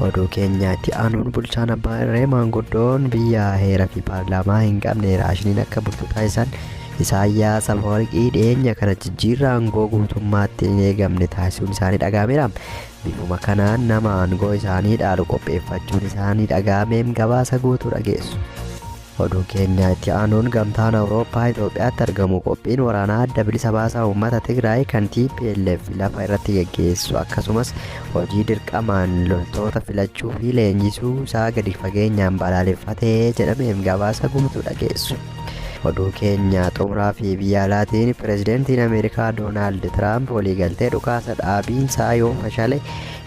Oduu keenya itti aanuun bulchaan abbaa irree maanguddoon biyya heera fi paarlaamaa hin qabne raashiniin akka bulchu taasisan Isaayyaas Afawarqii dhiyeenya kana jijjiirraa aangoo guutummaatti hin eegamne taasisuun isaanii dhaga'ameera. Bifuma kanaan nama aangoo isaanii dhaalu qopheeffachuun isaanii dhaga'ameem gabaasa guutuu dhageessu. Oduu keenya itti aanuun Gamtaan Awurooppaa Itoophiyaatti argamu qophiin waraanaa Adda Bilisa Baasaa Uummata Tigraay kan TPLF lafa irratti geggeessu akkasumas hojii dirqamaan loltoota filachuu fi leenjisuu isaa gadi fageenyaan balaaleffate jedhameef gabaasa guutuu dhageessu. Oduu keenya xumuraa fi biyya alaatiin pirezidantiin Ameerikaa Doonaald Tiraamp waliigaltee dhukaasa dhaabiinsaa yoo fashale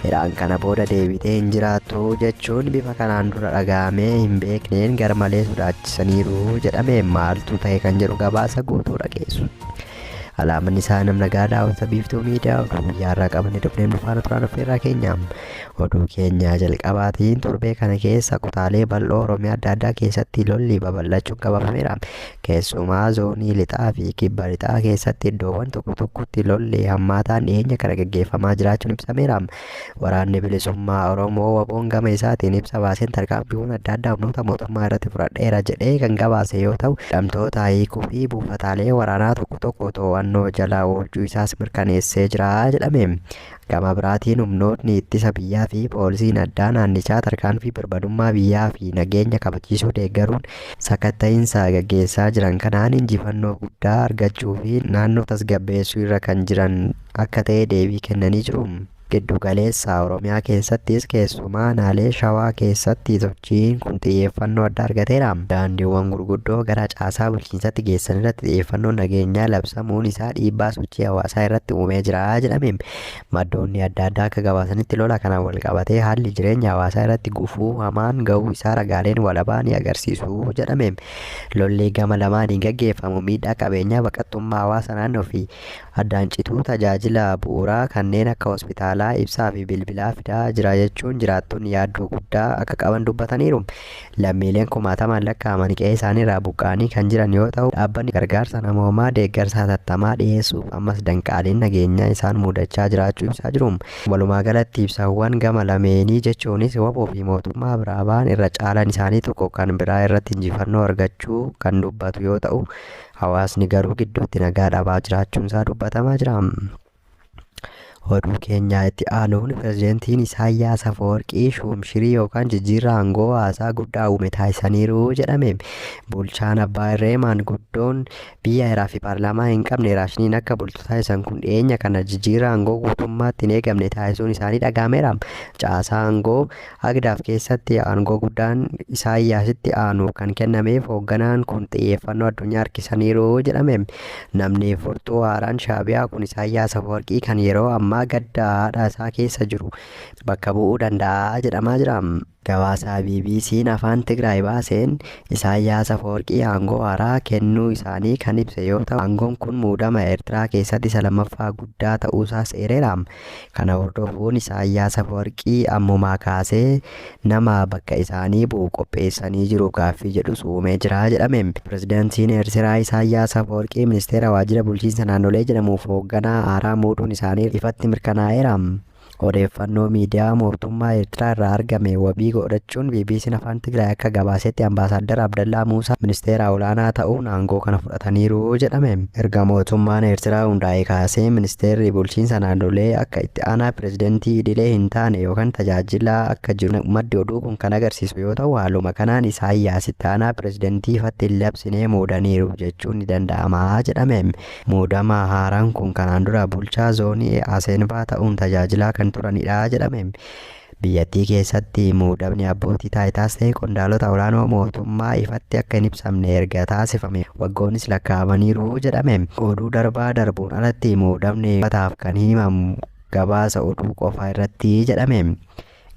Iraan kana booda deebitee hin jiraattu jechuun bifa kanaan dura dhaga'amee hin beekneen garmalee sodaachisaniiru jedhame maaltu ta'e kan jedhu gabaasa guutuu dhageessu. Alaamanni isaa namna gaadaa hawwata biiftuu miidiyaa oduu guyyaa irraa qabannee dhufneen dhufaana turaan affeerraa keenya. Oduu keenya jalqabaatiin torbee kana keessa kutaalee bal'oo Oromiyaa adda addaa keessatti lolli babal'achuun qabafameera. Keessumaa zoonii lixaa fi kibba lixaa keessatti iddoowwan tokko tokkotti lolli hammaataan dhiyeenya kana gaggeeffamaa jiraachuun ibsameera. Waraanni Bilisummaa Oromoo waboon gama isaatiin ibsa baaseen tarkaanfiiwwan adda addaa humnoota mootummaa irratti fudhadheera jedhee kan gabaase yoo ta'u, hidhamtoota hiikuu fi buufataalee waraanaa tokko tokko to'annoo jala oolchuu isaas mirkaneessee jira jedhame. Gama biraatiin humnootni ittisa biyyaa fi poolisiin addaa naannichaa tarkaanfii birmadummaa biyyaa fi nageenya kabachiisuu deeggaruun sakatta'iinsa gaggeessaa jiran kanaan injifannoo guddaa argachuu fi naannoo tasgabbeessuu irra kan jiran akka ta'e deebii kennanii jiru. Giddu galeessa Oromiyaa keessattis keessumaa aanaalee Shawaa keessatti Hojiin kun xiyyeeffannoo addaa argateera. Daandiiwwan gurguddoo gara caasaa bulchiinsatti geessan irratti xiyyeeffannoon nageenyaa labsamuun isaa dhiibbaa sochii hawaasaa irratti uumee jira jedhame. Maddoonni adda addaa akka gabaasanitti lola kanaan walqabatee haalli jireenya hawaasaa irratti gufuu hamaan gahuu isaa ragaaleen walabaa ni agarsiisu jedhame. Lolli gama lamaaniin gaggeeffamu miidhaa qabeenyaa, baqattummaa hawaasa naannoo fi addaan cituu tajaajila bu'uuraa kanneen akka hospitaalaa, ibsaa fi bilbilaa fidaa jira jechuun jiraattonni yaaddoo guddaa akka qaban dubbataniiru. Lammiileen kumaatamaan lakkaa'aman qe'ee isaaniirraa buqqa'anii kan jiran yoo ta'u, dhaabbanni gargaarsa namoomaa deeggarsa hatattamaa dhiyeessuuf ammas danqaaleen nageenyaa isaan muudachaa jiraachuu ibsaa jiru. Walumaagalatti ibsawwan gama lameenii jechuunis wbo fi mootummaa biraa ba'an irra caalaan isaanii tokko kan biraa irratti injifannoo argachuu kan dubbatu yoo ta'u, Hawaasni garuu gidduutti nagaa dhabaa jiraachuunsaa dubbatamaa jira. Oduu keenyaa itti aanuun pirezidantiin Isaayyaas Afawarqii shuumshirii yookaan jijjiirraa aangoo haasaa guddaa uume taasisaniiru jedhame. Bulchaan abbaa irree maanguddoon biyya heeraa fi paarlaamaa hin qabne raashiniin akka bultu taasisan kun dhiyeenya kana jijjiirraa aangoo guutummaatti hin eegamne taasisuun isaanii dhaga'ameera. Caasaa aangoo Hagdaaf keessatti aangoo guddaan Isaayyaasitti aanu kan kennameef hoogganaan kun xiyyeeffannoo addunyaa harkisaniiru jedhame. Namni furtuu haaraan Shaabiyaa kun Isaayyaas Afawarqii kan yeroo ammaa gadda haadha isaa keessa jiru bakka bu'uu danda'a jedhamaa jira. Gabaasa BBC'n afaan Tigraay baaseen Isaayyaas Afawarqii aangoo haaraa kennuu isaanii kan ibse yoo ta'u, aangoon kun muudama Eertiraa keessatti isa lammaffaa guddaa ta'uusaas eereera. Kana hordofuun Isaayyaas Afawarqii ammumaa kaasee nama bakka isaanii bu'u qopheessanii jiru gaaffii jedhus uumee jira jedhame. Pirezidantiin Eertiraa Isaayyaas Afawarqii Ministeera Waajjira Bulchiinsa Naannolee jedhamuuf hoogganaa haaraa muuduun isaanii ifatti mirkanaa'eera. Odeeffannoo miidiyaa mootummaa Eertiraa irraa argame wabii goodhachuun BBC'n Afaan Tigraay akka gabaasetti Ambaasaaddar Abdallaa Muusaa Ministeera Olaanaa ta'uun aangoo kana fudhatan. fudhataniiru jedhame. Erga mootummaan Eertiraa hundaa'ee kaasee ministeerri bulchiinsa naannolee akka itti aanaa pirezidantii idilee hin taane yookan tajaajilaa akka jiru maddi oduu kun kan agarsiisu yoo ta'u haaluma kanaan Isaayyaas itti aanaa pirezidantii ifatti hin labsine muudaniiru jechuun ni danda'ama jedhame. Muudama haaraan kun kanaan dura bulchaa zoonii Asenvaa ta'uun tajaajilaa kan turanidha jedhame. Biyyattii keessatti muudamni abbootii taayitaas ta'e qondaalota olaanoo mootummaa ifatti akka hin ibsamne erga taasifame waggoonnis lakkaa'amaniiru jedhame. Oduu darbaa darbuun alatti muudamni uummataaf kan himamu gabaasa oduu qofaa irratti jedhame.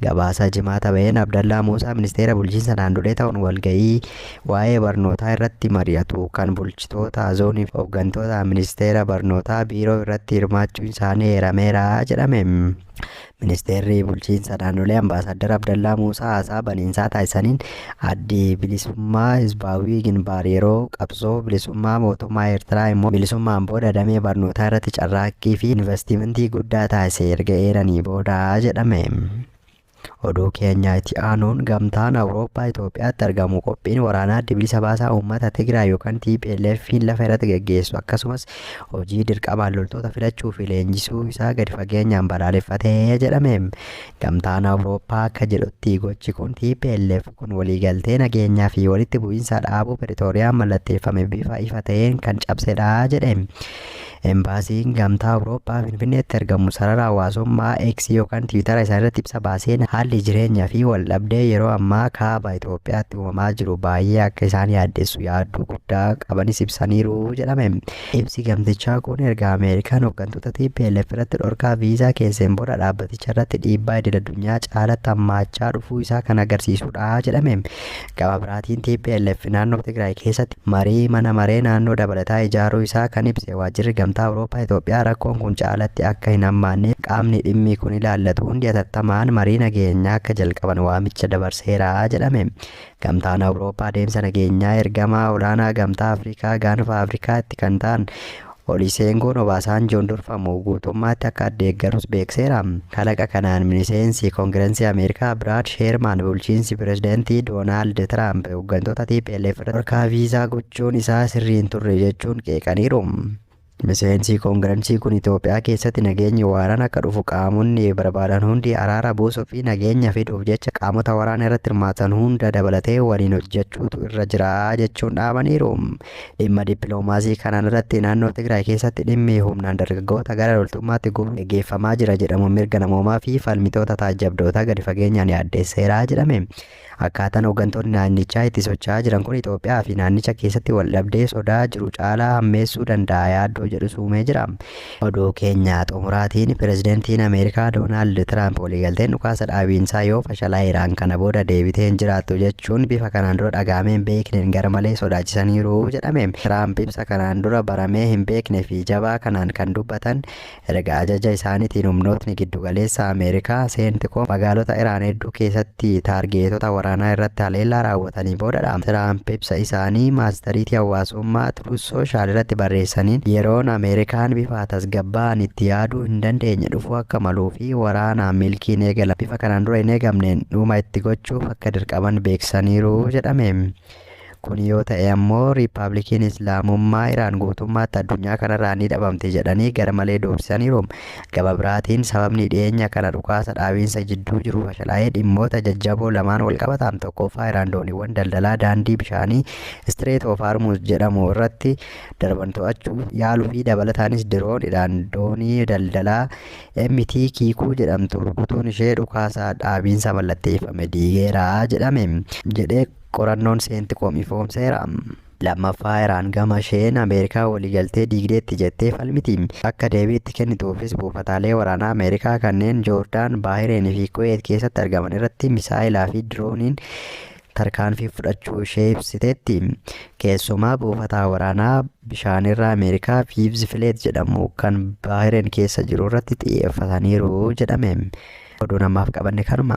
Gabaasa Jimaata ba'een Abdallaa Muusaa Ministeera Bulchiinsa Naannolee ta'uun walga'ii waa'ee barnootaa irratti mari'atu kan bulchitoota zoonii fi hooggantoota Ministeera Barnootaa biiroo irratti hirmaachuun isaanii eerameera jedhame. Ministeerri Bulchiinsa Naannolee Ambaasaaddar Abdallaa Muusaa haasaa baniinsaa taasisaniin addi bilisummaa Hizbaawwii Ginbaar yeroo qabsoo bilisummaa mootummaa Eertiraa immoo bilisummaan booda damee barnootaa irratti carraaqqii fi investimentii guddaa taasise erga eeranii booda jedhame. Oduu keenya itti aanuun gamtaan Awurooppaa Itoophiyaatti argamu qophiin waraanaa addi bilisa baasaa uummata Tigraay yookaan TPLFiin lafa irratti gaggeessu akkasumas hojii dirqamaan loltoota filachuu fi leenjisuu isaa gadi fageenyaan balaaleffate jedhame. Gamtaan Awurooppaa akka jedhutti gochi kun TPLF kun waliigaltee nageenyaa fi walitti bu'iinsa dhaabuu Piritooriyaan mallatteeffame bifa ifa ta'een kan cabsedha jedhe. Embaasiin Gamtaa Awurooppaa Finfinneetti argamu sarara hawaasummaa X yookaan Tiwiitara isaa irratti ibsa baaseen haalli jireenyaa fi waldhabdee yeroo ammaa kaaba Itoophiyaatti uumamaa jiru baay'ee akka isaan yaaddessu yaadduu guddaa qabanis ibsaniiru jedhame. Ibsi gamtichaa kun erga Ameerikaan hooggantoota TPLF irratti dhorkaa viizaa keesseen booda dhaabbaticha irratti dhiibbaa idil addunyaa caalatti hammaachaa dhufuu isaa kan agarsiisudha jedhame. Gama biraatiin TPLF naannoo Tigraay keessatti marii mana maree naannoo dabalataa ijaaruu isaa kan ibse waajjirri gamtaa Awurooppaa Itoophiyaa rakkoon kun caalatti akka hin hammaanneef qaamni dhimmi kun ilaallatu hundi atattamaan marii nageenyaa akka jalqaban waamicha dabarseera jedhame. Gamtaan Awurooppaa deemsa nageenyaa ergamaa olaanaa Gamtaa Afrikaa gaanfa Afrikaatti kan ta'an Oliseengoon Obaasaanjoon durfamu guutummaatti akka addeeggarus beekseera. Kalaqa kanaan miniseensi Kongirensii Ameerikaa Biraad Sheermaan bulchiinsi Pirezidantii Doonaald Tiraamp hoggantoota tplf irratti dhorkaa viizaa gochuun isaa sirrii hin turre jechuun qeeqaniiru. Miseensii Koongiransii kun Itoophiyaa keessatti nageenyi waaraan akka dhufu qaamonni barbaadan hundi araara buusuu fi nageenya fiduuf jecha qaamota waraana irratti hirmaatan hunda dabalatee waliin hojjechuutu irra jira jechuun dhaamaniiru. Dhimma dippiloomaasii kanaan irratti naannoo Tigraay keessatti dhimmi humnaan dargaggoota gara loltummaatti guuruun geggeeffamaa jira jedhamu mirga namoomaa fi falmitoota taajjabdootaa gadi fageenyaan yaaddeesseera jedhame. Akkaataan hoggantoonni naannichaa itti socha'aa jiran kun Itoophiyaa fi naannicha keessatti waldhabdee sodaa jiru caalaa hammeessuu danda'a yaaddoo jedhus uumee jira. Oduu keenya xumuraatiin Pirezidantiin Ameerikaa Doonaald Tiraamp waliigalteen dhukaasa dhaabiinsaa yoo fashalaa'e Iraan kana booda deebitee hin jiraattu jechuun bifa kanaan dura dhaga'amee hin beekneen garmalee sodaachisaniiru jedhame. Tiraamp ibsa kanaan dura baramee hin beekne fi jabaa kanaan kan dubbatan Erga ajaja isaanitiin humnootni giddu galeessa Ameerikaa, Centcom, magaalota Iraan hedduu keessatti taargeetota waraanaa irratti haleellaa raawwatanii boodadha. Tiraamp ibsa isaanii maastariitii hawaasummaa Truth Social irratti barreessaniin, yeroon Ameerikaan bifa tasgabbaa'aan itti yaaduu hin dandeenye dhufuu akka maluu fi waraanaan milkiin eegalame bifa kanaan dura hin eegamneen dhuma itti gochuuf akka dirqaman beeksisaniiru jedhame. Kun yoo ta'e ammoo Riippaabilikiin Islaamummaa Iraan guutummaatti addunyaa kanarraa ni dhabamti jedhanii gara malee doorsisaniiru. Gama biraatiin sababni dhiyeenya kana dhukaasa dhaabiinsa jidduu jiru fashalaa'ee dhimmoota jajjaboo lamaan walqabata. Tokkoffaa Iraan dooniiwwan daldalaa daandii bishaanii Strait of Hormuz jedhamu irratti darban to'achuuf yaaluu fi dabalataanis diroon Iraan doonii daldalaa MT Kiikuu jedhamtu rukutuun ishee dhukaasa dhaabiinsa mallatteeffame diigeera jedhame jedhee Qorannoon Seentiikoom ifoomseera. Lammaffaa Iraan gama isheen Ameerikaa waliigaltee diigdeetti jettee falmiti. Akka deebii itti kennituufis buufataalee waraanaa Ameerikaa kanneen Joordaan, Baahireen fi Kuweet keessatti argaman irratti misaa'elaa fi dirooniin tarkaanfii fudhachuu ishee ibsiteetti. Keessumaa buufataa waraanaa bishaanirraa Ameerikaa Viivz Fileet jedhamu kan Baahireen keessa jiru irratti xiyyeeffataniiru jedhame. Oduun ammaaf qabanne kanuma.